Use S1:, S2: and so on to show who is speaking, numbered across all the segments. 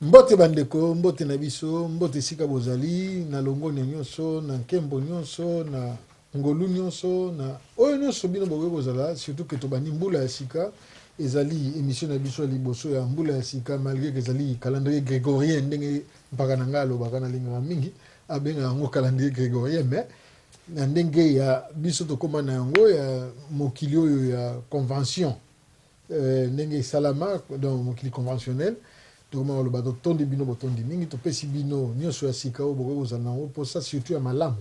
S1: Mbote ba ndeko, mbote na biso, mbote esika bozali, na longonya nionso, na nkembo nionso, na ngolu nionso, na oyo nionso bino bokoki kozala, surtout que tobandi mbula ya sika, ezali emission na biso ya liboso ya mbula ya sika, malgre que ezali calendrier gregorien ndenge mpaka na ngai alobaka, nalingaka mingi abengaka yango calendrier gregorien, mais na ndenge ya biso tokoma na yango ya mokili oyo ya convention. Ee, ndenge esalama, donc mokili conventionnel, tokomaka koloba, Totondi bino botondi mingi, topesi bino nyonso ya sika oyo bokoki kozala na yango mposa, surtout ya malamu,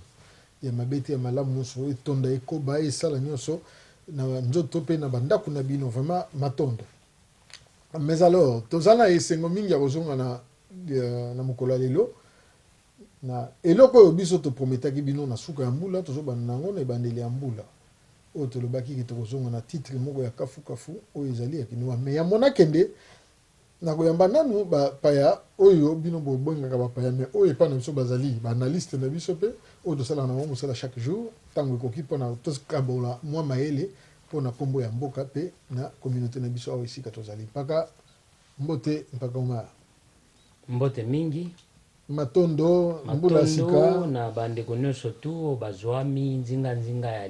S1: ya mabe te, ya malamu nyonso, etonda, ekoba, esala nyonso na nzoto mpe na bandako na bino. Vraiment matondo. Mais alors, tozali na esengo mingi ya kozonga na, na mokolo ya lelo, na eloko oyo biso toprometaki bino na suka ya mbula, tozobanda na yango na ebandeli ya mbula. Oyo tolobaki ke tokozonga na titre moko ya kafu kafu oyo ezali ya kinois mais ya mona kende nakoyamba nanu ba paya oyo bino bobengaka ba paya mais oyo epa na biso bazali ba analyste na biso pe oyo tosalaka na bango mosala chaque jour tango ekoki pona tokabola mua mayele pona kombo ya mboka pe na communaute na biso awa esika tozali mpaka mbote mpaka omar. Mbote
S2: mingi Matondo,
S1: mbula ya sika. Matondo na ba ndeko nionso
S2: tout oyo bazuami nzinga nzinga ya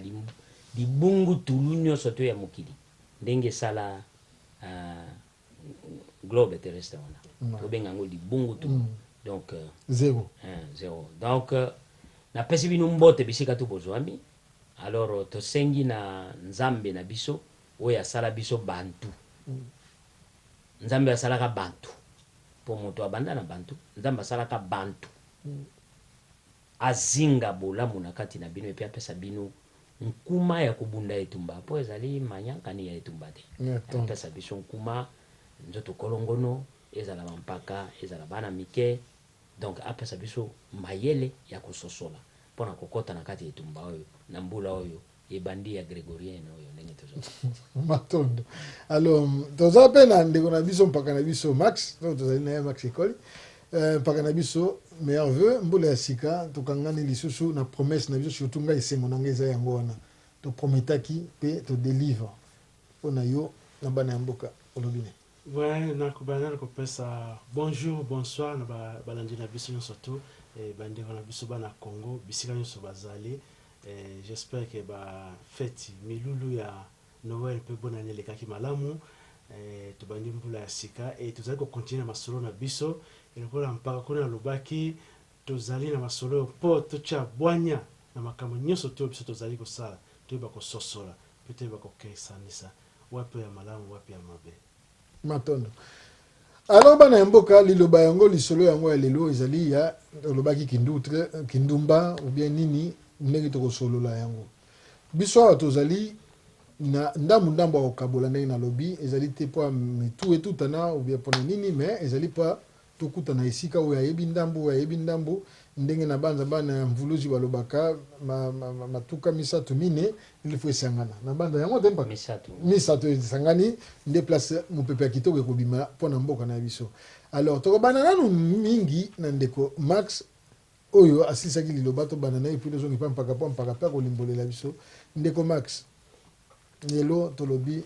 S2: libungu tulu nionso tout ya mokili ndenge esala globe terrestre wana to benga yango libungu tulu donc zero
S1: zero donc
S2: na pesi bino mbote bisika tout bozuami alors to sengi na nzambe na biso oyo asala biso bantu nzambe oyo asalaka bantu Po moto abanda na bantu, Nzambe asalaka bantu azinga bolamu na kati na bino epi apesa bino nkuma ya kobunda etumba, po ezali manyankani ya etumba te apesa biso nkuma, nzoto kolongono, ezala ba mpaka, ezala bana mike, donc apesa biso mayele ya kososola pona kokota na kati ya etumba oyo na mbula oyo Ebandi ya gregorienne oyo ndenge tozo mona. Matondo.
S1: Alors toza pe na ndeko na biso mpaka na biso Max, donc tozali na ye Max Ekoli. Euh, mpaka na biso meilleur vœux mbula ya sika tokangani lisusu na promesse na biso surtout ngai esengo na ngai eza yango wana to prometaki pe to deliver mpo na yo na bana ya mboka olobi nini Ouais nako banda
S3: nako pesa bonjour bonsoir na ba balandi na biso nionso tout et ba ndeko na biso bana Congo bisika nionso bazali et j'espère que ba feti milulu ya Noël pe bonne annee elekaki malamu et tobandi mbula ya sika et tozali ko continuer na masolo na biso et lokola mpaka kuna alobaki Tozali na masolo oyo mpo totya bwanya na makambo nyonso to oyo biso tozali kosala, toyeba kososola, mpe toyeba kokesanisa wapi oyo ya malamu, wapi ya mabe. Matondo.
S1: Alors bana ya mboka, liloba yango, lisolo yango ya lelo ezali ya, olobaki kindutre, kindumba ou bien nini, ndenge tokosolola yango. Biso awa tozali na ndambu ndambu ya kokabola ndenge nalobi, ezali te mpo ya mitu etutana ou bien mpo na nini mais ezali mpo ya Tokutana esika oyo ayebi ndambo, oyo ayebi ndambo. Ndenge nabanza bana ya Mvuluzi balobaka, ma, ma, ma, matuka misato, mine, il faut esangana. Nabanza yango te, mpaka. Misato. Misato esangani, nde place mopepe ya kitoko ekobima mpo na mboka na biso. Alors, tokobanda nanu mingi na ndeko Max, oyo asilisaki liloba, tobanda na ye, puis tozonga epai mpaka, mpo mpaka mpe akolimbolela biso. Ndeko Max, lelo tolobi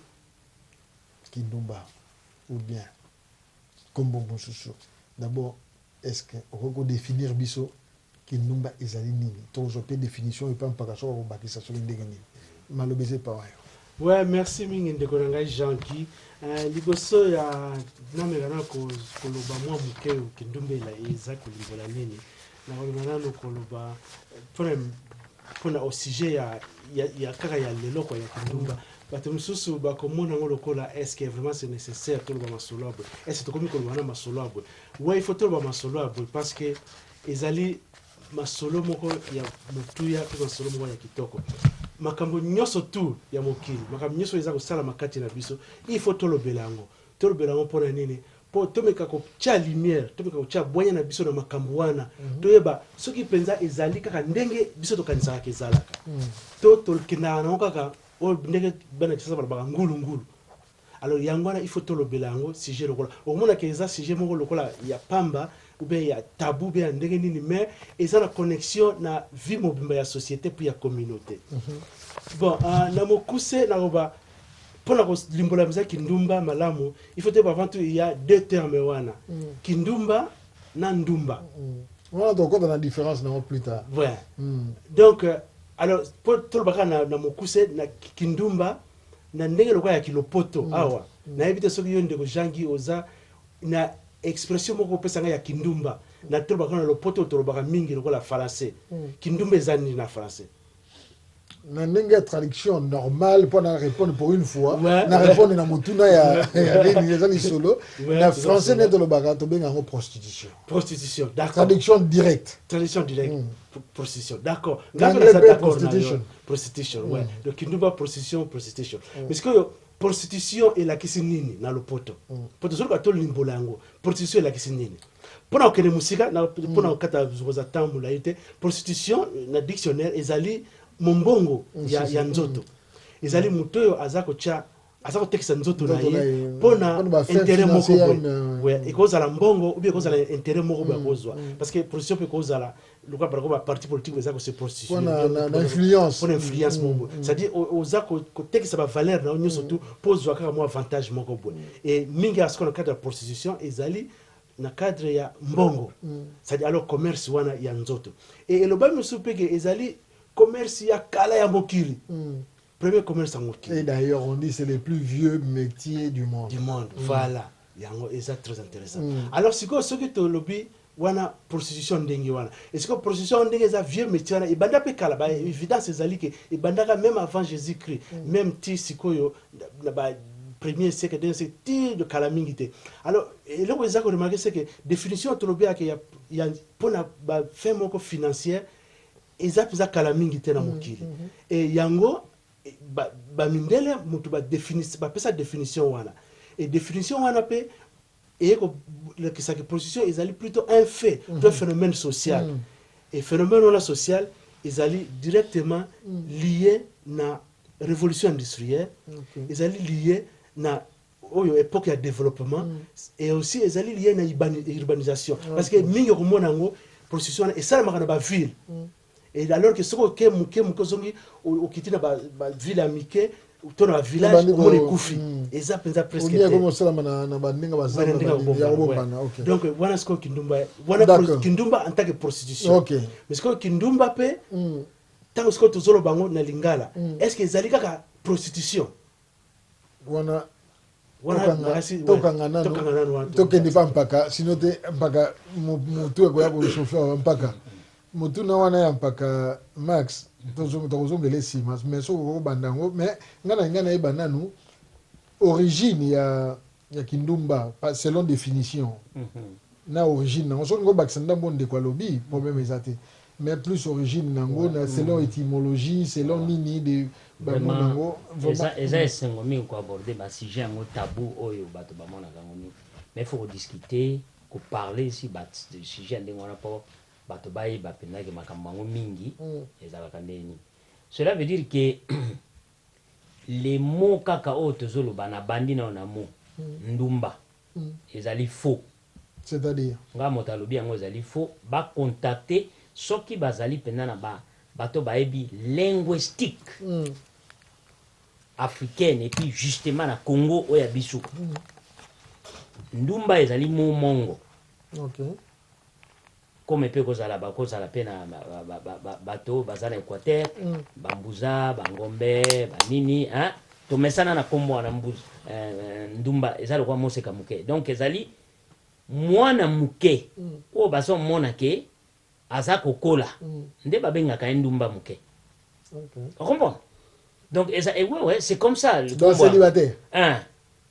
S1: kindumba, ou bien. kombo mosusu d'abord est ce que okoki ko definir biso kindumba ezali nini tozwa pe definition epa mpaka soki akobakisa soki ndenge nini maloba eza epa wayo. Ouais merci
S3: mingi ndeko na ngai Jean Guy eh, liboso ya nameka na koloba mwa moke kindumba eza kolimbola nini Nakolinga nanu koloba pona au sujet ya ya kaka ya lelo kwa ya kindumba bato mosusu bakomona yango lokola eske vraiment c'est nécessaire toloba masolo ya boye eske tokomi koloba na masolo ya boye wa il faut toloba masolo ya boye parce que ezali masolo moko ya motuya mpe masolo moko ya kitoko makambo nyonso tu ya mokili makambo nyonso eza kosalama kati na biso il faut tolobela yango tolobela yango mpo na nini Mpo tomeka kotya lumière, tomeka kotya bwanya na biso na makambo wana, toyeba soki mpenza ezali kaka ndenge biso tokanisaka ezalaka, to tokendaka na yango kaka oyo ndenge bana Kinshasa balobaka ngulu ngulu. Alors yango wana il faut tolobela yango sujet lokola. Okomona que eza sujet moko lokola ya pamba ou bien ya tabou ou bien ya ndenge nini mais eza na connexion na vie mobimba ya societe puis ya communaute. Bon, na mokuse naloba. pona ko limbola penza kindumba malamu il faut toyeba avant tout il ya deux termes wana kindumba na ndumba wana tokota
S1: na difference na ngo plus tard ouais hmm.
S3: donc euh, alors po toloba kaka na, na mokuse na kindumba na ndenge lokola ya kilopoto mm. awa mm. nayebi te soki yo ndeko jangi oza na expression moko opesa ngai ya kindumba na tolobaka na lopoto tolobaka mingi lokola français mm. kindumba eza nini na français
S1: na ndenge ya traduction normale mpo na répondre pour une fois na répondre na motuna ya nini eza lisolo na français nde tolobaka tobenga yango prostitution prostitution
S3: traduction directe
S1: traduction directe mm.
S3: prostitution d'accord prostitution prostitution mm. ouais donc kinduba prostitution prostitution mm. mais sikoyo prostitution elakisi nini na lopoto mpo mm. tozoluka tolimbola yango prostitution elakisi nini Pona kokende mosika na pona kokata kozwa temps molayi te, prostitution na dictionnaire ezali mombongo ya ya nzoto, ezali moto oyo aza kotia aza kotekisa nzoto na ye pona interet moko boye, ekozala mbongo ou bien ekozala interet moko boye akozwa parce que prostitution pe ekozala lokola par exemple ba partis politiques eza ko se prostituer
S1: pona influence moko boye c'est
S3: à dire oza kotekisa ba valeurs na yo nionso tout po ozwa kaka mua avantage moko boye et mingi ya sikoyo na kati ya prostitution ezali na cadre ya mbongo c'est à dire alors commerce wana ya nzoto et elobami mosusu mpe ke ezali commerce ya kala ya mokili premier commerce ya mokili et d'ailleurs on dit c'est le
S1: plus vieux metier du monde du monde mm. voilà
S3: yango eza très intéressant mm. alors sikoyo soki tolobi wana prostitution ndenge wana esiko prostitution ndenge eza vieux métier wana ebanda mpe kala ba évidence ezali ke ebandaka même avant jésus christ mm. même ti sikoyo na ba premier siècle deuxième siècle ti kala mingi te alors eloko eza ko remarquer c'est que definition oyo tolobiaka ya, ya pona ba fin moko financière eza mpenza kala mingi te na mm, mokili mm -hmm. e yango bamindele ba mutu bapesa definition wana e definition wana mpe Eye ko lakisa que prostitution ezali plutot un fait to un phenomène social et phenomène wana social ezali directement lie na revolution industrielle, ezali lie na oyo epoque ya developpement et aussi ezali lie na urbanisation parce que mingi okomona yango prostitution wana esalemaka na ba ville. Et alors que soki oke muke muke ozongi okiti na ba ville ya mike to na ba village omona ekufi hmm. eza penza presque te okomi osalama na na
S1: ba ndenge ba zamba ya kobomana ok donc wana sikoyo kindumba
S3: wana kindumba en tant que prostitution ok mais sikoyo
S1: kindumba
S3: pe hmm. tango sikoyo tozoloba bango na lingala hmm. est ce que ezali kaka prostitution
S1: wana tokanga nano tokende pa mpaka sino te mpaka motu ekoya kosofe wa mpaka motuna wana ya mpaka max tokozongela nsima mais soki okobanda yango mais ngai nalinga nayeba nanu origine ya ya kindumba selon definition na origine na yango soki olingi obakisa ndambu oyo ndeko alobi problème eza te mais plus origine na yango na selon etymologie selon nini de ba mot na yango
S2: vraiment eza esengo mingi ko aborder ba sujet yango tabou oyo batu ba monaka yango mingi mais il faut ko discuter ko parler sur ba sujet ya ndenge wana po batu ba yeba penza ke makambu yango mingi ezalaka ndenge nini cela veut dire que Le mot kaka oyo tozo loba na bandi nayo na mot ndumba ezali faux. C'est à dire?
S1: Nga moto alobi
S2: yango ezali faux ba contacter soki bazali penza na ba bato bayebi linguestique africaine et puis justement na Congo oyo ya biso ndumba ezali mot mongo. Okay. Comme pe ekozala bakozala pe na bato baza na Equateur, ba Mbuza, ba Ngombe, ba nini hein, tomesana na kombo wana Mbuza, Ndumba eza lokola moseka muke donc ezali mwana muke oyo bazo mona ke aza kokola nde babengaka ye Ndumba muke Au comprends? Donc eza eh, ouais, ouais, c'est comme ça. Le Donc célibataire.
S1: Hein.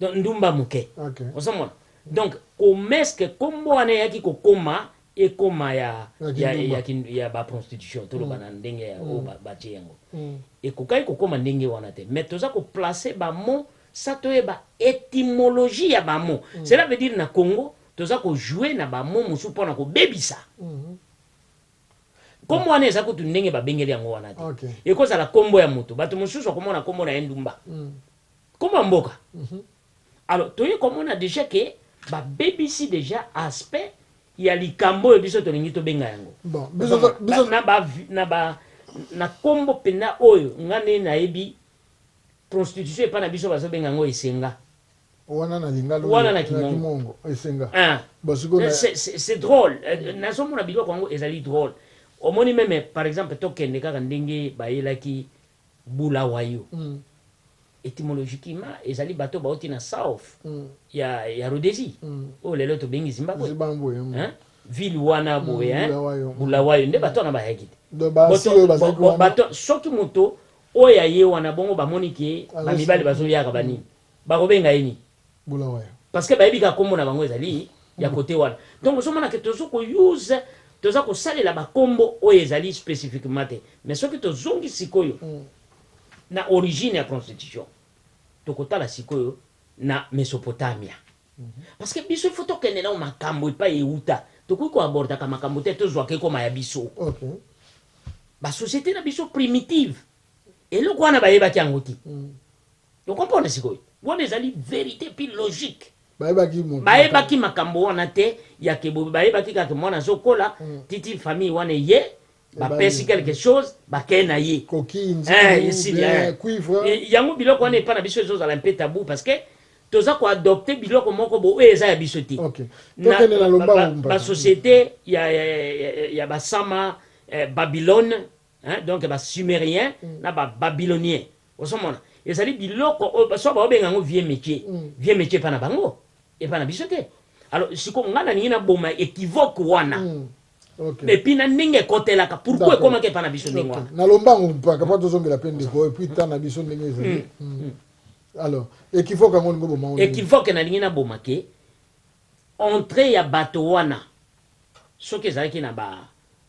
S1: Donc
S2: ndumba muke. Ok. Ozo mona.
S1: Donc
S2: komeske kombo wana eyaki kokoma ekoma ya ya ya, ya ba prostitution toloba mm. na ndenge ya mm. oyo batie yango mm. ekokaki kokoma ndenge wana te mais toza koplace bamo sa toyeba étymologie ya bamo mm. cela veut dire na congo toza kojoue na bamo mosusu mpo na kobebisa mm -hmm. Kombo wana eza kutu ndenge ba bengeli yango wana te. Eko zala kombo
S1: ya moto.
S2: Batu mosusu oko mona kombo na ye ndumba. Kombo ya mboka. Alors toye ko mona dejà que ba bebisi dejà aspect ya likambo oyo biso tolingi to benga yango.
S1: Na ba
S2: na ba na kombo penza oyo nga nde na yebi prostitution epa na biso bazo benga yango esenga. Wana na
S1: lingala oyo na kimongo
S2: esenga
S1: bon sikoyo na.
S2: C'est drole nazo mona biloko yango ezali drole omoni meme par exemple to kende kaka ndenge ba yelaki Bulawayo etymologiquement ezali bato ba wuti na south ya Rhodesie oyo lelo to bengi Zimbabwe hein ville wana boye hein Bulawayo nde bato wana ba yaki te soki moto oyo aye wana bongo ba moni ke ba mibali bazo yaka ba nini Bakobenga ye nini? Bulawayo.
S1: Parce que bayebi kaka
S2: kombo na bango ezali ya cote wana. Donc ozo mona que tozo ko use, toza ko salela ba kombo oyo ezali specifiquement te. Mais soki tozongi sikoyo na origine ya constitution, toko tala sikoyo na Mesopotamia. Parce que biso il faut tokende nao makambo epai ewuta. Tokoki ko abordaka makambo te, tozwaka ekoma ya biso.
S1: Ba
S2: societes na biso primitives, eloko wana bayebaki yango te. O comprendre sikoyo? Wana ezali verite puis logique. Bayebaki moto. Bayebaki makambo wana te ya ke boye, bayebaki kaka ke mwana azo kola, titi famille wana eye, ba pesi quelque chose, ba ke na ye. Coquille, nzungu,
S1: ou bien
S2: cuivre. Eh, esili eh. Yango biloko wana epa na biso ezo zala un peu tabou parce que toza ko adopter biloko moko bo oyo eza ya biso te. Okay. Tokende na
S1: lombangu.
S2: Ba societe ya, ya, ya, ya ba sama, eh, Babylone, Hein donc ba sumeriens na ba babyloniens ozo mona ezali biloko oyo soit bao benga yango vieux metier vieux metier epa na bango epa na biso te alors sikoyo nga na lingi na boma equivoque wana Ok. et
S1: puis na ndenge
S2: ekotelaka pourquoi D'accord. ekomaka epa na biso ndenge Ok. wana Na lombangu mpaka mpo
S1: tozongela mpe ndeko oyo puis temps na biso ndenge ezali. Mm. Alors, ekivoka yango olingi oboma yango ndenge nini? equivoque na lingi na boma
S2: ke entree ya bato wana soki ezalaki na ba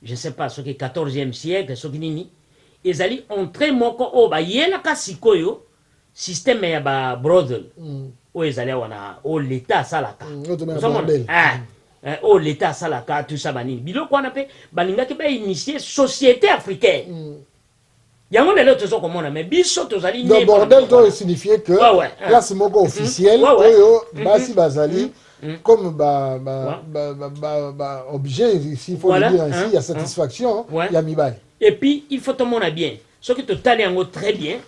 S2: je sais pas soki 14 e siècle soki nini, ezali entree moko oyo bayelaka sikoyo système ya ba brothel oyo ezali awa na oyo l'etat asalaka ozo mona eh eh oyo l'etat asalaka tout ça ba nini biloko wana pe balingaki ba initier societe africaine Yango lelo tozo komona mais biso tozali nde bordel to e
S1: signifier que place moko officielle oyo basi bazali comme ba ba ba ba ba objet ici faut le dire ainsi ya satisfaction ya mibali et puis il faut
S2: tomona bien soki totali yango très bien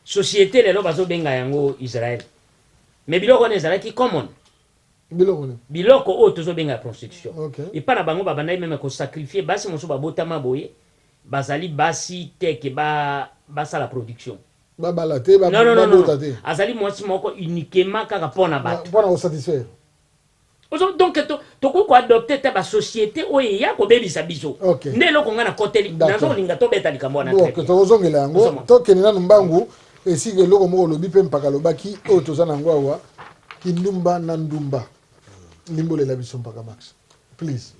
S2: societe lelo bazo benga yango Israël mais biloko wana ezalaki common Biloko nini? Biloko oyo tozo benga ya prostitution. Epa na bango babandaki meme ko sacrifier basi mosusu babotama boye bazali basi te que ba basala production. Babala te, ba
S1: bota te. Non, non, non. Azali
S2: mwasi moko uniquement kaka po na batu. Po na ko satisfaire.
S1: Ozo
S2: donc tokoki ko adopter ata ba societes oyo eya kobebisa biso. Nde eloko nga nakoteli. Nazo linga tobeta likambo wana très bien. Tokozongela yango.
S1: Tokende nanu mbangu. Esika eloko moko olobi mpe mpaka alobaki oyo toza na yango awa kindumba na ndumba limbolela biso mpaka max please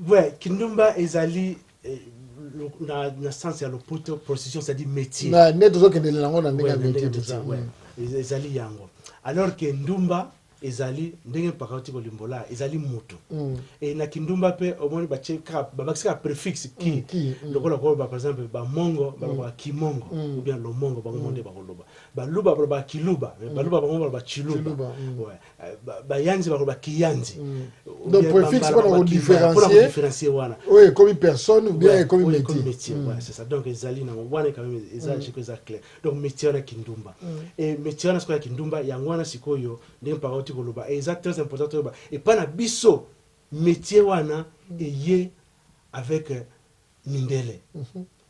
S1: Ouais,
S3: kindumba ezali eh, lo- na, na sens ya lopoto prostitution c'est-à-dire métier na nde tozokendele nango
S1: na ndenge Ouais, ya na ndenge métier toza, métier ouais. Ez- ezali yango
S3: alors que ndumba Ezali ndenge mpaka auti kolimbolaa, ezali moto. Et na kindumba mpe omoni batie kaka, babakisi kaka prefixe ki, lokola koloba par exemple ba Mongo balobaka Kimongo ou bien Lomongo, bango moko nde bakoloba. Baluba balobaka Kiluba, mais baluba bango moko baloba Tshiluba. Ouais. Bayanzi bakoloba Kiyanzi ou bien
S1: Bambara bakoloba Kivara, mpo na ko differencier wana. Oyo ekomi
S3: personne
S1: ou bien ekomi metier. Ouais, c'est ça. Donc
S3: ezali na yango, wana quand meme eza, je crois eza clair. donc metier wana kindumba et metier wana sikoyo ya kindumba yango wana sikoyo ndenge mpaka auti koloba et eza très important toyeba epai na biso metier wana eye avec euh, mindele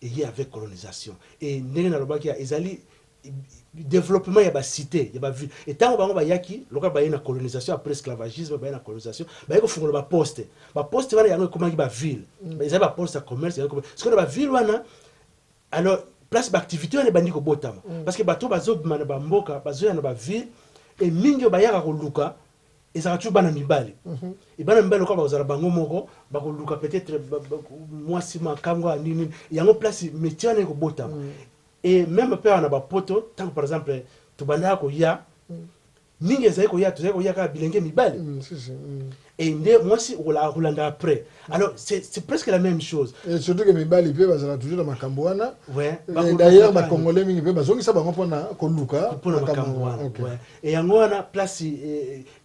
S3: eye avec colonisation et ndenge nalobaki ya ezali développement ya bacité ya baville etango bango bayaki lokola baye na colonisation après esclavagisme baye na colonisation baye kofungola baposte baposte wana yango ekomaki baville ezali baposte ya commerce yango ekoma- sikoyo na baville wana Alors place ba activites wana ebandi kobotama parce que bato oyo bazobima na ba mboka bazoya na ba villes et mingi oyo bayaka koluka ezalaka toujours bana mibali et bana mibali lokola bakozala bango moko bakoluka peut etre mwasi makango ya nini nini yango place metier wana ekobotama et meme mpe awa na ba poto tango par exemple tobandaka koya Mingi ezali koya tozali koya kaka bilenge mibali et nde mwasi okolaka kolanda après alors c'est presque la meme chose et surtout que mibali
S1: pe bazalaka toujours na makambu wana
S3: d'ailleurs ba congolais
S1: mingi pe bazongisa bango pona koluka makambu wana
S3: et yango wana place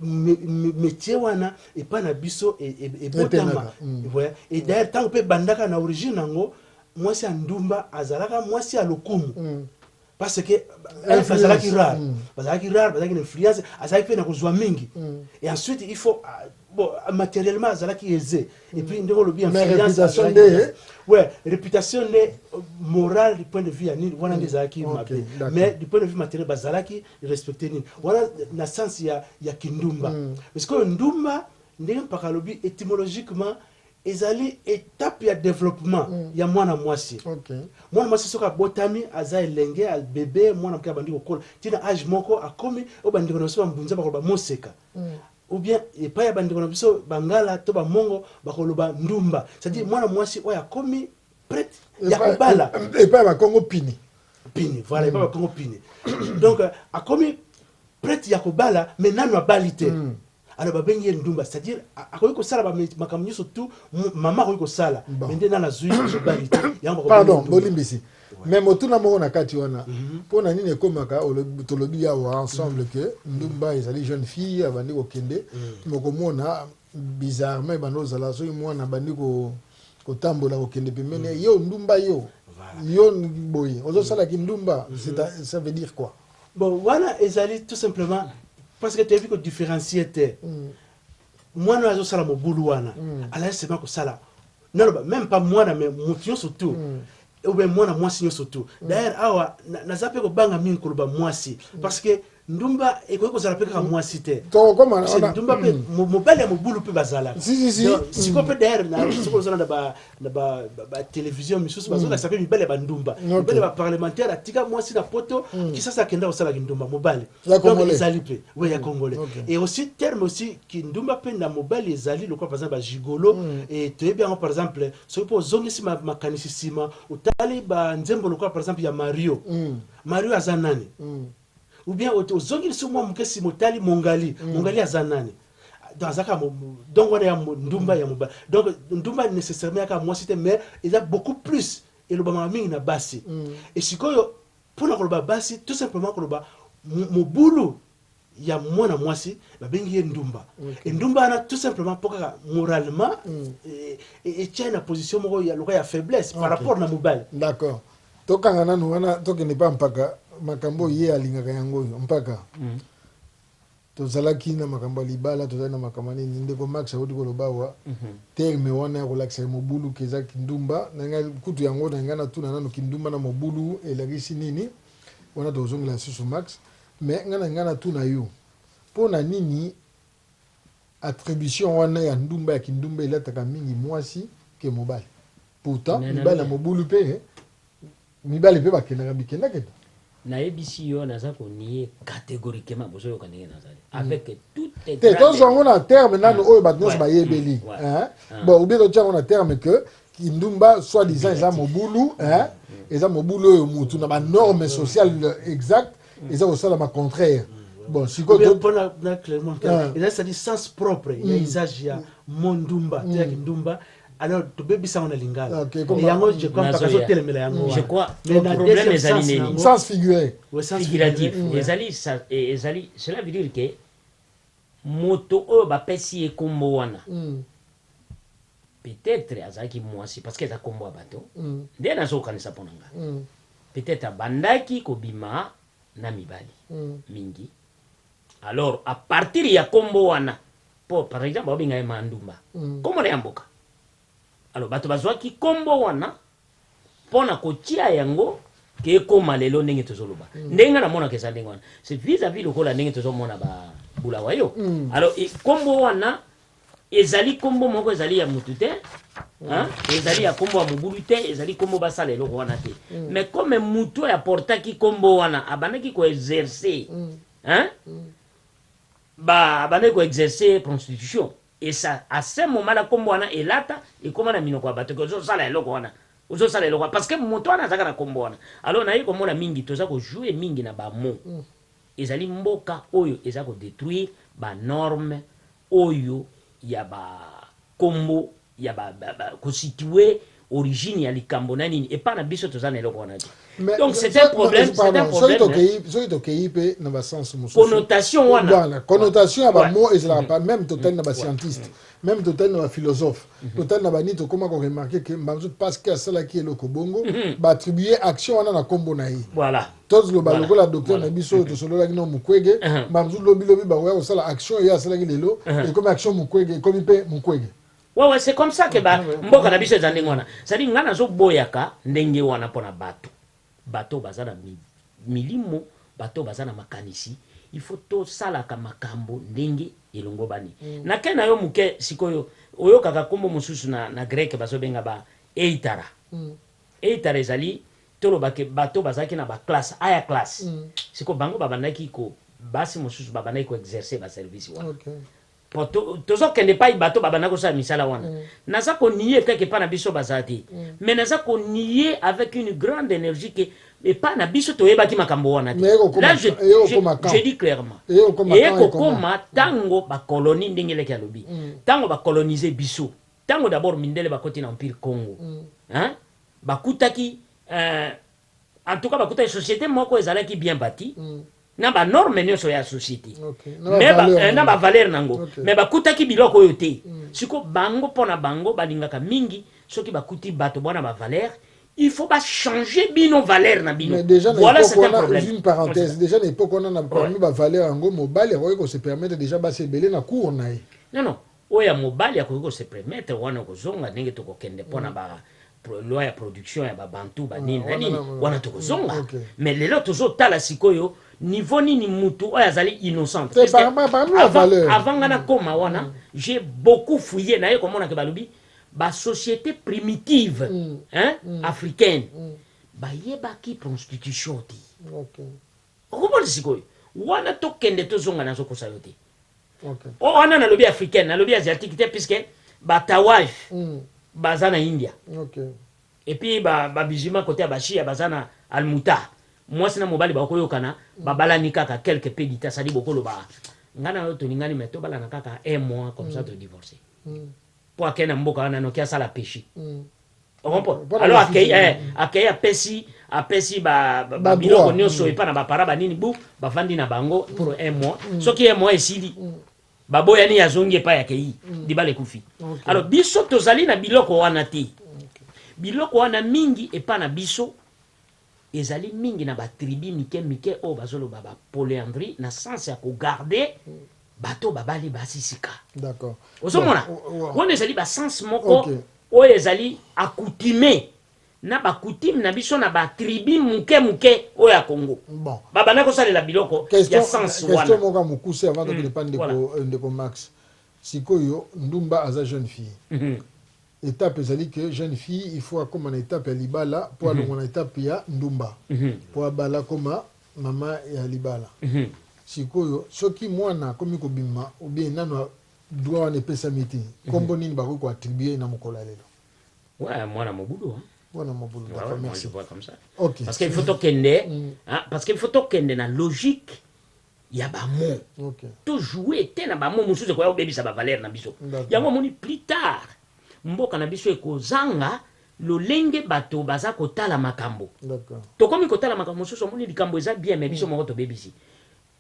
S3: metier wana epa na biso ebotama et d'ailleurs tangu pe ebandaka na origine nango mwasi ya ndumba azalaka mwasi ya lokumu parce que elf azalaki rare mm. bazalaki rare bazalaki na influence azalaki mpe na kozwa mingi mm. et ensuite il faut ah, bon matériellement azalaki aisé mm. et puis ndenge olobi influence nde ouais réputation nde euh, morale du point de vue ya nini wana nde ezalaki mabe mais du point de vue matériel bazalaki respecte nini wana na sens ya, ya kindumba mm. parce que ndumba ndenge mpaka alobi étymologiquement Ezali etape ya developpement ya mwana mwasi. Mwana mwasi soki abotami, aza elenge, bebe, mwana moke abandi kokola ti na age moko akomi oyo ba ndeko na biso ba mbunza bakoloba moseka ou bien epayi ya ba ndeko na biso ba ngala to ba mongo bakoloba ndumba c'est à dire mwana mwasi oyo akomi prete ya kobala epayi ya ba kongo
S1: pini pini voilà epayi
S3: ya ba kongo pini donc akomi prete ya kobala mais nanu abali te. Alors ba bengi ye ndumba c'est à dire akoki ko sala ba makambo nyoso tout maman akoki ko sala mais nde nana azui mobali te yango bako pardon bolimbisi
S1: mais motuna moko na kati wana mhm. mpo na nini ekomaka tolobi awa ensemble mhm. que ndumba ezali jeune fille abandi kokende mhm. mokomona bizarrement ebanda kozala soki mwana abandi kotambola kokende pembeni yo ndumba yo yo boye ozosala kindumba ça veut dire quoi Bon wana
S3: ezali tout simplement parce que toyebi ko differencier te mwana oyo azosala mobulu wana azali seulement kosala naloba meme pas mwana mais moto nyonso tout ou bien mwana mwasi nyonso tout d'ailleurs awa na- naza mpe kobanga mingi koloba mwasi parce que ndumba ekoki kozala mpe kaka mwasi te Tokokoma na Parce que wana. ndumba
S1: mpe mo-
S3: mobali ya mobulu mpe bazalaka Si, si, si. Donc, sikoyo mpe d'ailleurs na- soki ozala na ba na ba, ba, ba television misusu bazolakisa mpe mibali ya bandumba Okay. mibali ya baparlementaire atika mwasi na poto kisasa akenda kosala kindumba mobali Ya Donc, Congolais. ezali mpe we ya congolais Okay. et aussi terme aussi kindumba mpe na mobali ezali lokola par exemple bagigolo et toyebi yango par exemple soki mpe ozongisi ma- makanisi nsima otali banzembo lokola par exemple ya mario mario aza nani Ou bien ozongi lisusu mua muke sima otali Mongali. Mongali aza nani? Donc aza kaka donc wana ya ndumba ya mobali. Donc ndumba necessairement ya kaka mwasi te mais eza beaucoup plus elobamaka mingi na basi. Et sikoyo pona koloba basi tout simplement koloba mobulu ya mwana mwasi babengi ye ndumba. Et ndumba wana tout simplement po kaka moralement etiani na position moko ya lokola ya faiblesse par rapport na mobali. D'accord.
S1: Tokanga nanu wana tokende pa mpaka makambo oyo ye alingaka yango oyo mpaka tozalaki na makambo ya libala tozali na makambo ya nini ndeko max awuti koloba awa terme wana ya kolakisa ya mobulu keza kindumba na ngai kutu yango na ngai natuna nanu kindumba na mobulu elakisi nini wana tokozongela lisusu max mais ngai na ngai natuna yo mpo na nini Attribution wana ya ndumba ya kindumba elataka mingi muasi que mobali. Pourtant Mais mibali na naloba. mobulu pe mibali pe bakendaka bikenda kenda. Nayebisi
S2: yo naza ko nier categoriquement bozo yoka ndenge nazali avec toute Te grande tozwa yango na terme
S1: nanu oyo batu nionso Ouais. bayebeli Mm. Ouais. hein. Ah. Bon ou bien totia yango na terme que kindumba soit disant eza Négatif. mobulu hein. Eza mobulu oyo mutu na ba normes sociales exactes eza kosalama contraire bon sikoyo mpona na clermont
S3: ah. eza sali sens propre ya hmm. usage ya mo ndumba to ya hmm. kindumba alors tobebisa yango na lingala ah, yango je crois mpaka azotelemela yango je crois problème
S2: ezali nini sens figuré
S1: figuratif
S2: ezali ezali cela veut dire que Moto oyo bapesi ye kombo wana peut etre azalaki muasi parce que eza kombo ya bato nde nazo kanisa pona nga peut etre abandaki kobima na mibali mingi alors a partir ya kombo wana po par exemple bazo benga ye ma ndumba kombo naye ya mboka alors bato bazuaki kombo wana Mpo na kotia yango que ekoma lelo ndenge tozo loba ndenge nga na monaka eza ndenge wana c'est vis à vis lokola ndenge tozo mona ba Bulawayo alors kombo wana ezali kombo moko ezali ya mutu te hein ezali ya kombo ya mobulu te ezali kombo basala eloko wana te mais comme mutu oyo aportaki kombo wana abandaki ko exercer hein ba abandaki ko exercer prostitution Et ça a ce moment là kombo wana elata ekoma na minoko ya bato que ozo sala eloko wana ozo sala eloko wana parce que moto wana azalaka na kombo wana alors naye komona mingi toza ko jouer mingi na ba mots ezali mboka oyo eza ko detruire ba normes oyo ya ba kombo ya ba ko situer origine ya likambo na nini epa na biso toza na eloko wana te donc c'est un problème c'est un problème soki
S1: tokeyi pe na ba sens mosusu connotation wana voilà
S2: connotation ya ba mots
S1: ezalaka pas même totali na ba scientiste même totali na ba philosophe totali na ba nini tokoma ko remarquer que mbanzo parce que asalaki eloko bongo ba attribuer action wana na kombo na ye voilà tozoloba
S2: lokola
S1: docteur na biso oyo tosololaki na mukwege mbanzo lobi lobi bakoya kosala action ye asalaki lelo ekomi action mukwege ekomi pe mukwege Ouais ouais c'est comme
S2: ça que ba mboka na biso eza ndenge wana c'est à dire nga nazo boyaka ndenge wana pona batu bato baza na milimo bato baza na makanisi il faut to salaka makambo ndenge elongobani na ken na yo muke sikoyo oyokaka kombo mosusu na na grec bazo benga ba eitara eitara ezali toloba ke bato bazalaki na ba classe aya classe siko bango babandaki ko basi mosusu babandaki ko exercer ba service wana Po tozo kende epai bato babanda kosala misala wana. Naza ko nier kaka epai na biso baza te. Mais naza ko nier avec une grande energie que epai na biso toyebaki makambo wana te. Là je, je, je dis clairement. Eye kokoma tango ba colonie, ndenge leki alobi. Tango ba coloniser biso. Tango d'abord mindele bakoti na Empire Congo. Hein? Bakutaki, eh, En tout cas bakutaki societe moko ezalaki bien bati na ba normes nionso ya societe mais na ba valeurs na yango mais bakutaki biloko oyo te sikoyo bango pona bango balingaka mingi soki bakuti bato bana ba valeurs il faut ba changer bino valeurs na bino voila c'est un problème. Juste une parenthèse dejà na
S1: epoque wana na parmi ba valeurs yango mobali akoki ko se permettre dejà basi ebele na cour na ye non non Oyo ya
S2: mobali akoki ko se premettre wana oko zonga ndenge toko kende pona ba loi ya production ya ba bantou ba nini na nini wana toko zonga mais lelo tozo tala sikoyo niveau nini mutu oyo azali innocente puisque avant avant nga na koma wana j'ai beaucoup fouille naye ko mona ke balobi ba societe primitive hein africaine ba yebaki pronstitution te okomona sikoyo wana to kende to zonga nazo kosa yo te Okay. O oh, wana nalobi africaine, nalobi asiatique te puisque ba tawaj mm. baza na India. Okay. Et puis ba ba musulmans côté ya bashia baza na almuta. Mwasi na mobali bakoyokana, mm. babalani kaka quelques peu du temps, ça dit bokoloba. Ngana yo tolingani mais tobalana kaka un mois comme mm. ça to divorcer. Mm. po akei na mboka wana noki asala peche o comprendre alors akei eh, akei apesi apesi ba biloko nionso epa na ba para ba nini bu bavandi na bango pour un mois soki un mois esili baboyani azongi epai akei libala ekufi alors biso tozali na biloko wana te biloko wana mingi epa na biso Ezali mingi na ba tribus mike mike oyo bazo loba ba polyandrie na sens ya ko garder bato oyo babali basi sika. Ozo
S1: mona?
S2: Wana ezali ba sens moko oyo ezali accoutume na ba coutumes na biso na ba tribus muke muke oyo ya Congo. Ba bandaki ko
S1: salela biloko
S2: ya sens wana. Question moko ya mokuse avant
S1: tokende epai ndeko Max. Sikoyo ndumba aza jeune fille. Etape ezali que jeune fille il faut akoma na etape ya libala po alongwa na etape ya ndumba po abala akoma maman ya libala. Sikoyo soki mwana akomi kobima ou bien nanu droit wana epesami te kombo nini bakoki ko attribuer na mokolo ya lelo? Ouais mwana
S2: mobulu hein. Mwana mobulu
S1: d'accord merci. Ouais moi je vois comme ça. Okay. Parce
S2: que il faut tokende hein parce que il faut tokende na logique ya ba mots okay. to joue te na ba mots mususu ekoya kobebisa ba valeur na biso yango omoni plus tard mboka na biso ekozanga lolenge bato baza kotala makambo tokomi
S1: kotala makambo
S2: mosusu omoni likambo eza bien me biso mm. moko tobebisi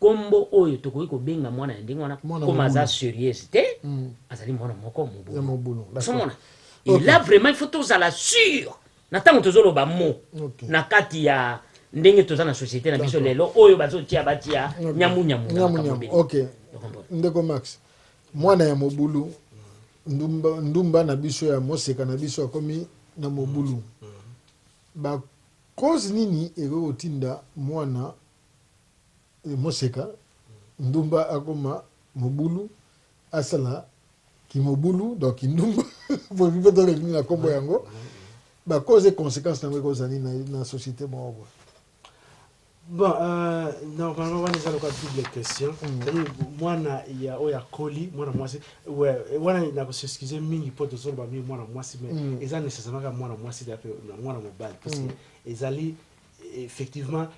S2: kombo oyo tokoki kobenga mwana ya ndenge wana koma aza serieuse te mm. azali mwana moko mobulu ozomona okay. et là vraiment il faut tozala sur Na tango tozo loba mot na kati ya ndenge toza na societe na biso lelo oyo bazo tia ba tia nyamu nyamu na makambo ebele.
S1: Ok ndeko Max mwana ya mobulu ndumba ndumba na biso ya moseka na biso akomi na mobulu ba cause nini ekoki kotinda mwana moseka ndumba akoma mobulu asala kimobulu donc kindumba boyebi mpe toleli nini na nkombo yango ba cause et consequence na yango ekozala nini na société moko boye
S3: Bon, euh, normalement wana eza lokola double question mm. c'est-à-dire mwana ya oyo akoli mwana mwasi wana na kosexcuse mingi mpo tozoloba mingi mwana mwasi mais mm. eza nécessairement kaka mwana mwasi te mpe mwana mobali parce que mm. ezali effectivement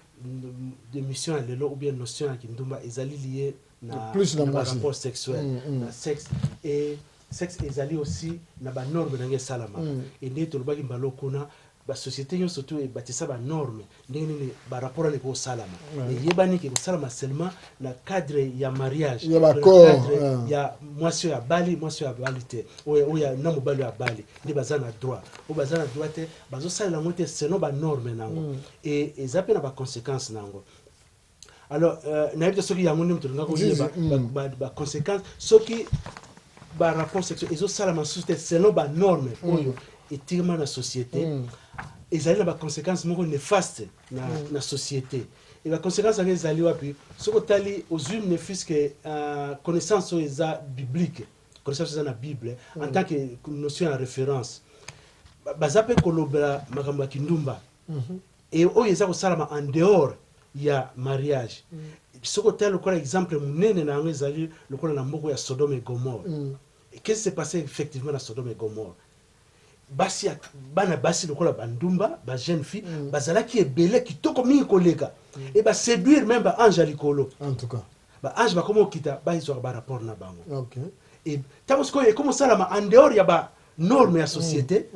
S3: de mission ya lelo ou bien notion ya kindumba ezali liye na, plus na, na ba rapport sexuel mm, mm. na sexe et sexe ezali aussi na ba normes ndenge esalamaka mm. et ndenge tolobaki mbala kuna basociété nyonso to ebatisa banorme ndenge nini barapport wana ekosalama eyebani ke ekosalama seulement na cadre ya mariage cadre
S1: ya
S3: mwasi oyo abali mwasi oyo abali te oyo na mobali oyo abali nde baza na droit oyo baza na droit te bazosalela yango te selon banorme na yango mm. e eza mpe na baconséquence na yango alors euh, nayebi te soki yango nde moto olingaka oyeba mm. baconséquence soki barapport sexuel ezosalama susu te selon banorme mm. oyo etikama na société mm. ezali na baconséquence moko néfaste na, na société e baconséquence yango ezali wapi soki otali ozwi ne fiske euh, connaissance oyo eza biblique connaissance eza na bible en tant que notion ya référence baza mpe kolobela makambo ya kindumba et oyo eza kosalama en dehors ya mariage soki otali lokola exemple munene na yango ezali lokola na mboka ya sodome et gomore qu'est ce qui se passe effectivement na sodome et gomore basi ya bana basi lokola ba ndumba ba jeune fille bazalaki ebele kitoko mingi koleka et ba seduire meme ba ange ya likolo en tout cas Ba
S1: anges bakoma kokita
S3: ba zuaka ba rapports na bango et
S1: tango
S3: sikoyo ekomi kosalama en dehors ya ba normes ya societe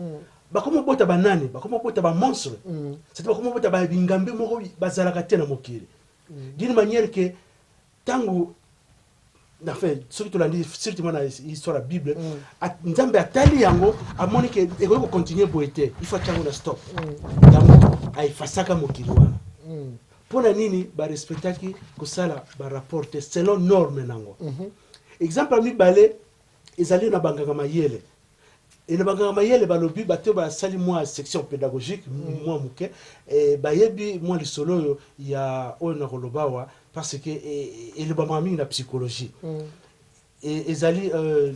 S3: bakomi kobota ba nani? Bakomi kobota ba monstres c'est à dire bakomi kobota ba bingambe moko bazalaka te na mokili d'une manière que tango enfin soki tolandi surtout mwana histoire ya bible Nzambe atali yango amoni que ekoki ko continuer boye te il faut atia yango na stop yango a effacaka mokili wana Pona nini ba respectaki kosala ba rapport te selon norme nango? Exemple ya mibale ezali na banganga mayele et na banganga mayele balobi bato oyo basali mua section pedagogique mua muke bayebi mua lisolo oyo ya oyo nakoloba awa parce que elobamaka mingi na psychologie E, ezali, uh,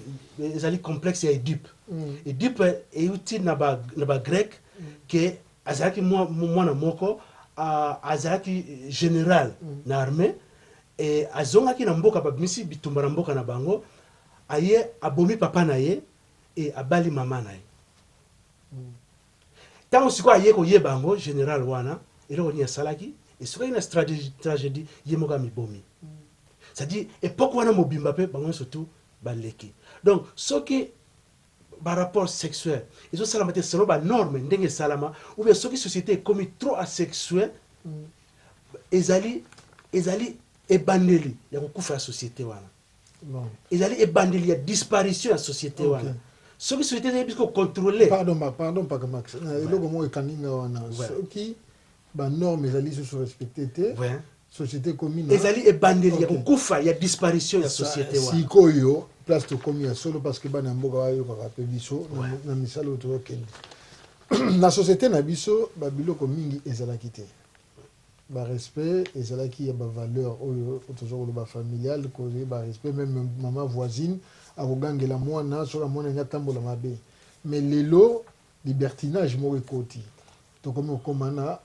S3: ezali complexe ya Edipe. Mm. Edipe euti na ba, na ba grec mm. ke azalaki mwana moko uh, azalaki general mm. na armée e azongaki na mboka babimisi bitumba na mboka na bango aye abomi papa na ye e abali mama na ye mm. Tango sikoyo aye koyeba yango general wana eloko nini asalaki esukaki na tragedy ye moko amibomi c'est à dire epoque wana mobimba pe bango nionso tout baleki donc soki ba rapport sexuel ezo salama te selon ba norme ndenge esalama ou bien soki societe ekomi trop asexuel ezali ezali ebandeli ya kokufa ya societe wana. ezali ebandeli ya disparition ya societe wana okay. soki societe eyebi soki kocontrole pardon, pardon mpaka
S1: max euh, eloko moko ekangi nga wana soki banorme ezali susu respecte te société commune hein? ezali ebandeli ya
S3: kokufa ya disparition ya société wana sikoyo place
S1: tokomi ya solo parce que bana ya mboka bayokaka mpe biso na misala oyo tozokende na société na biso babiloko mingi ezalaki te Ba respect ezalaki ya ba valeurs oyo toza koloba familiale ko yeba respect meme maman voisine ako gangela muana soki amonani atambola mabe mais lelo libertinage moko ekoti tokomi kokoma na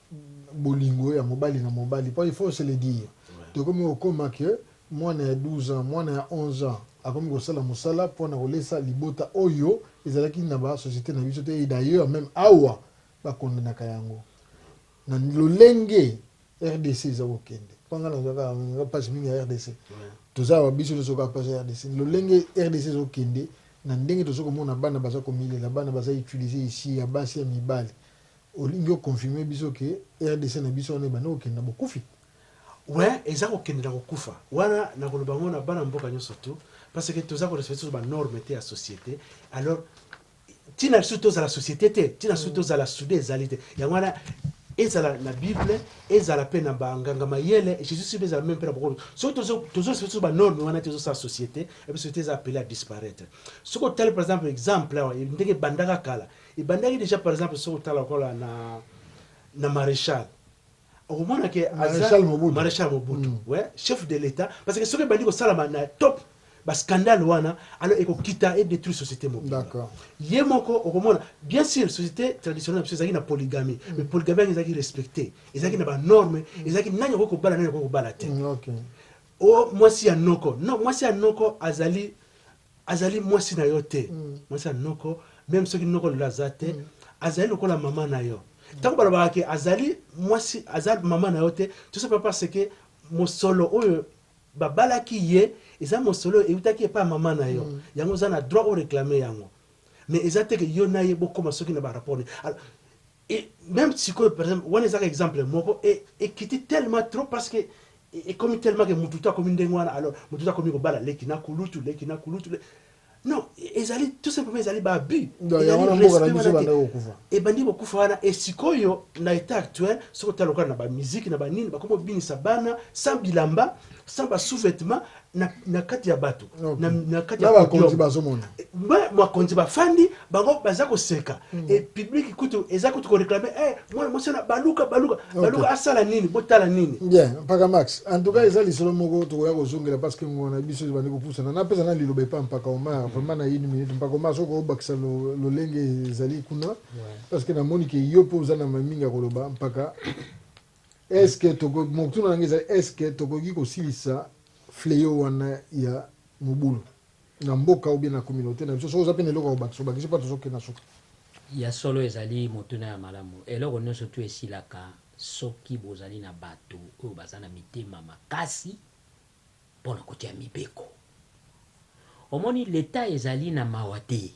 S1: bolingo ya mobali na mobali po il faut se le dire tokomi kokoma que muana ya 12 ans muana ya 11 ans akomi kosala musala pona kolesa libota oyo ezalaki na ba societe na biso te et d'ailleurs meme awa ba condenaka yango Na lolenge rdc eza kokende mpo nga nazwa kaka nga mpasi mingi ya rdc toza awa biso nyonso kaka mpasi ya rdc lolenge rdc ezokende na ndenge tozo komona bana baza komilela bana baza utiliser ici ya basi ya mibali olingi o confirmer biso ke rdc na biso wana ebandi kokende na bokufi Oui,
S3: eza kokende na kokufa wana nakoloba yango na bana mboka nyonso tout parce que toza ko respecter ba normes te ya societe alors Ntina biso tozala societe te, ntina biso tozala sude ezali te. Yango wana, ezala na Bible, ezala mpe na ba nganga mayele, Jesus Christ, ezala meme mpe na bokolo, soki tozo tozo respecter biso ba normes wana te, ezosala societe na biso te eza appele à disparaitre. Soki otali par exemple exemple awa ndenge ebandaka kala, ebandaki dejà par exemple soki otala lokola na na Marechal, okomona ke aza marechal mobutu we chef de l'etat parce que soki ebandi kosalama na top ba scandale wana alors ekokita e detruire société mobimba ye
S1: moko
S3: okomona bien sûr société traditionnelle na biso ezalaki na polygamie mm. mais polygamie yango ezalaki respecte ezalaki na banorme mm. ezalaki nani akoki kobala nani akoki kobala te mm,
S1: o
S3: mwasi ya noko no mwasi ya noko azali Azali mwasi na yo te, mwasi ya noko, meme soki noko lelo aza te, azali lokola maman na yo. Tango balobaka ke azali mwasi, aza maman na yo te, tout ça parce que mosolo oyo babalaki ye eza mosolo oyo ewutaki epai ya maman na yo, yango oza na droit o reclamer yango, mais eza te ke yo na ye bokoma soki na ba rapport nini. Et meme sikoyo par exemple wana eza kaka exemple moko et ekiti tellement trop parce que ekomi tellement que mutu tout akomi ndenge wana alors mutu tout akomi kobala leki na kulutu leki na kulutu leki non ezali tout simplement ezali ba abus ezali respect wana te ebandi kokufa wana et sikoyo na etat actuel soki otala lokola na ba musique na ba nini bakomi kobinisa bana sans bilamba sans ba sous-vetements na, na kati ya bato okay. na, na kati ya bakonzi bazomona
S1: bakonzi
S3: bafandi bango baza koseka mm. e publiki kutu eza kutu koreklame eh, mwana mwasi wana baluka baluka okay. baluka asala nini botala nini bien mpaka max
S1: en tout cas eza lisolo moko tokoya kozongela parce que ngona biso ebandi kopusana napesa na liloba epa mpaka omar mm. vraiment na une minute mpaka omar soki obakisa lolenge ezali kuna parce que namoni ke yo mpe oza na mamingi ya koloba mpaka Est ce que tokoki, motuna na ngai ezali est ce que tokoki kosilisa fleau wana ya mobulu na mboka ou bien na communaute na biso? Soki oza pe na eloko ya kobakisa, obakisi po tozo kende na suka. Ya solo
S2: ezali motuna ya malamu. Eloko nionso tout esilaka soki bozali na batu oyo baza na mitema makasi pona kotia mibeko. Omoni l'etat ezali na mawa te.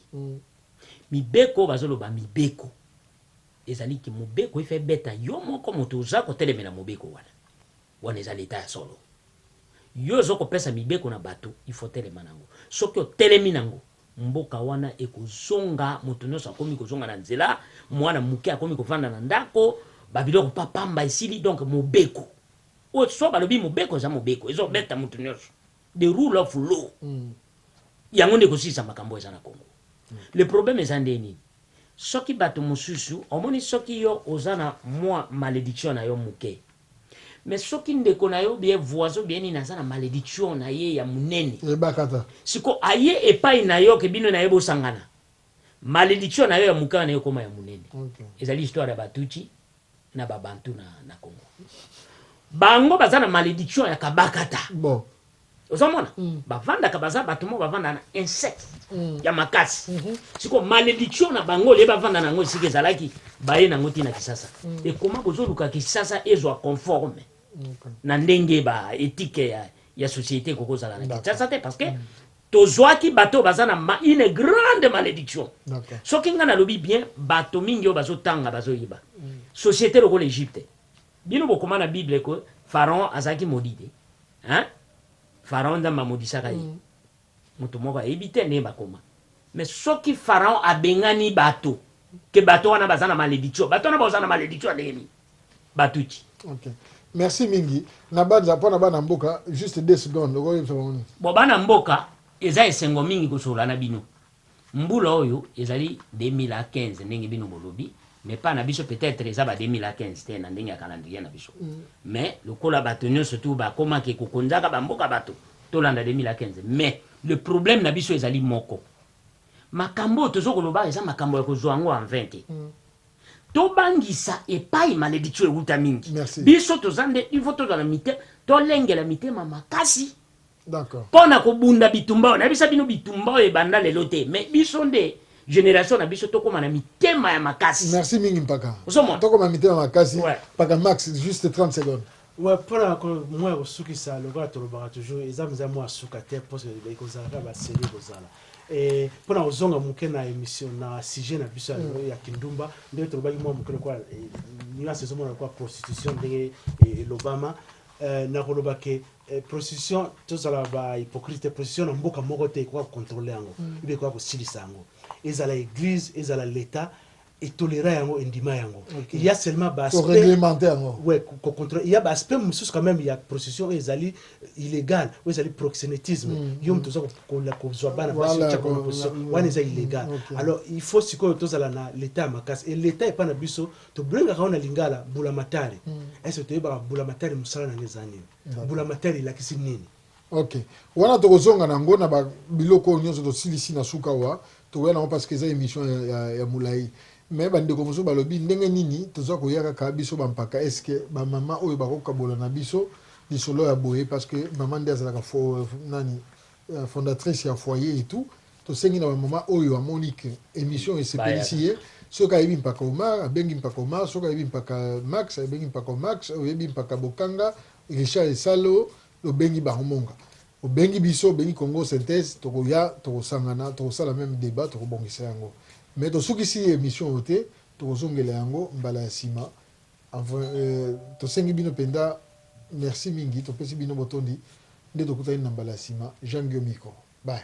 S2: Mibeko, bazo loba mibeko. Ezali que mobeko if ebeta yo moko moto oza kotelemela mobeko wana. Wana eza l'etat ya solo. Yo ozo kopesa mibeko na bato il faut otelema nango. Soki otelemi nango mboka wana ekozonga moto nionso akomi kozonga na nzela, muana muke akomi kovanda na ndako, ba biloko pa pamba esili donc mobeko oyo soit balobi mobeko eza mobeko ezo beta moto nionso. The rule of law yango nde ekosilisa makambo oyo eza na Congo. Le problème eza nde nini? Soki batu mususu omoni soki yo oza na mua malediction na yo muke mais soki ndeko na yo ou bien voisin ou bien nini aza na malediction na ye ya munene Ebakata. sikoyo
S1: aye
S2: epayi na yo que bino na ye bosangana malediction na yo ya muke wana ekoma ya munene. Ezali histoire ya ba Tutshi. na ba bantu na na congo bango baza na malediction ya kabakata bon
S1: ozomona
S2: mm. bavandaka baza bato moko bavanda na insecte mm. ya makasi mm -hmm. siko malediction na bango olie bavanda na yango esika ezalaki baye nango ntina kisasa mm. ekoma bozoluka kisasa ezwa conforme mm. na ndenge ba etike ya, ya société ekokozala na kisasa te parce que mm. Tozuaki bato oyo baza na une grande malediction. Soki nga nalobi bien, bato mingi oyo bazo tanga bazo yeba. Societe lokola Egypte. Bino bokoma na bible que Pharaon azalaki maudit te? Hein? Pharaon Nzambe amodisaka ye? Moto moko ayebi te ndenge bakoma. Mais soki Pharaon abengani bato que bato wana baza na malediction, bato wana bakozala na malediction ya ndenge nini? ba tutshi. Ok
S1: merci mingi nabanza pona bana mboka juste deux secondes okoki koyebisa bango nini? Bon bana mboka
S2: eza esengo mingi kosolola na bino mbula oyo ezali 2015 ndenge bino bolobi mais epa na biso peut etre eza ba 2015 te na ndenge ya calendrier na biso mais lokola bato nionso tout bakoma ke kokonzaka ba mboka bato tolanda 2015 mais le problème na biso ezali moko makambo oyo tozo koloba eza makambo ya kozua yango en vain te Tobangisa epayi malediction ewuta mingi. Biso toza nde il faut tozala mite tolengela mitema makasi
S1: pona kobunda
S2: bitumba oyo nayebisa bino bitumba oyo ebanda lelo te mais biso nde generation na biso tokoma na mitema ya makasi. Merci mingi mpaka.
S1: Ozomona? Tokoma mitema
S2: makasi.
S1: Mpaka Max juste 30 secondes. Ouais pona ko
S3: mua ya kosukisa lokola tolobaka toujours eza mza mua suka te po ekozala kaka ba serie ekozala et pona kozonga muke na emission na sujet na biso ya lelo ya kindumba ndenge tolobaki mua muke lokola nuance ezomona lokola prostitution ndenge elobama na koloba ke prostitution tozala ba hypocrite te prostitution na mboka moko te ekoka ko controler yango ibe ekoka kosilisa yango ezala eglise ezala l'etat e tolera yango e ndima yango il ya seulement ba aspect ko reglementer yango
S1: oui ko controler il ya
S3: ba aspect mususu quand meme ya prostitution oyo ezali illegal oyo ezali proxenetisme mm, yo mutu oza ko la ko zwa bana basi voilà, ko voilà, wana eza illegal mm, okay. alors il faut sikoyo tozala na l'etat makasi et l'etat epa na biso to blengaka na lingala bula matari mm. est ce que to yebaka bula matari musala na nge zani bula matari la kisi nini Ok
S1: wana tokozonga nango na ba biloko oyo nionso tosilisi na suka awa tokoya nango parce que eza emission ya, ya, ya mulayi mais ba ndeko mosusu balobi ndenge nini toza koya kaka biso ba mpaka est ce que ba maman oyo bako kabola na biso lisolo ya boye parce que maman nde azalaka fo, nani fondatrice ya foyer et tout tosengi na ba maman oyo amoni que emission oyo esepelisi ye soki ayebi mpaka Omar abengi mpaka Omar soki ayebi mpaka Max abengi mpaka Max oyebi mpaka Bokanga Richard Esalo Obengi bango monga obengi biso obengi congo synthese tokoya tokosangana tokosala meme debat tokobongisa yango mais tosukisi emission oyo te tokozongela yango mbala ya sima tosengi bino penza merci mingi topesi bino botondi nde tokutani na mbala ya sima jean guillaume iko bye.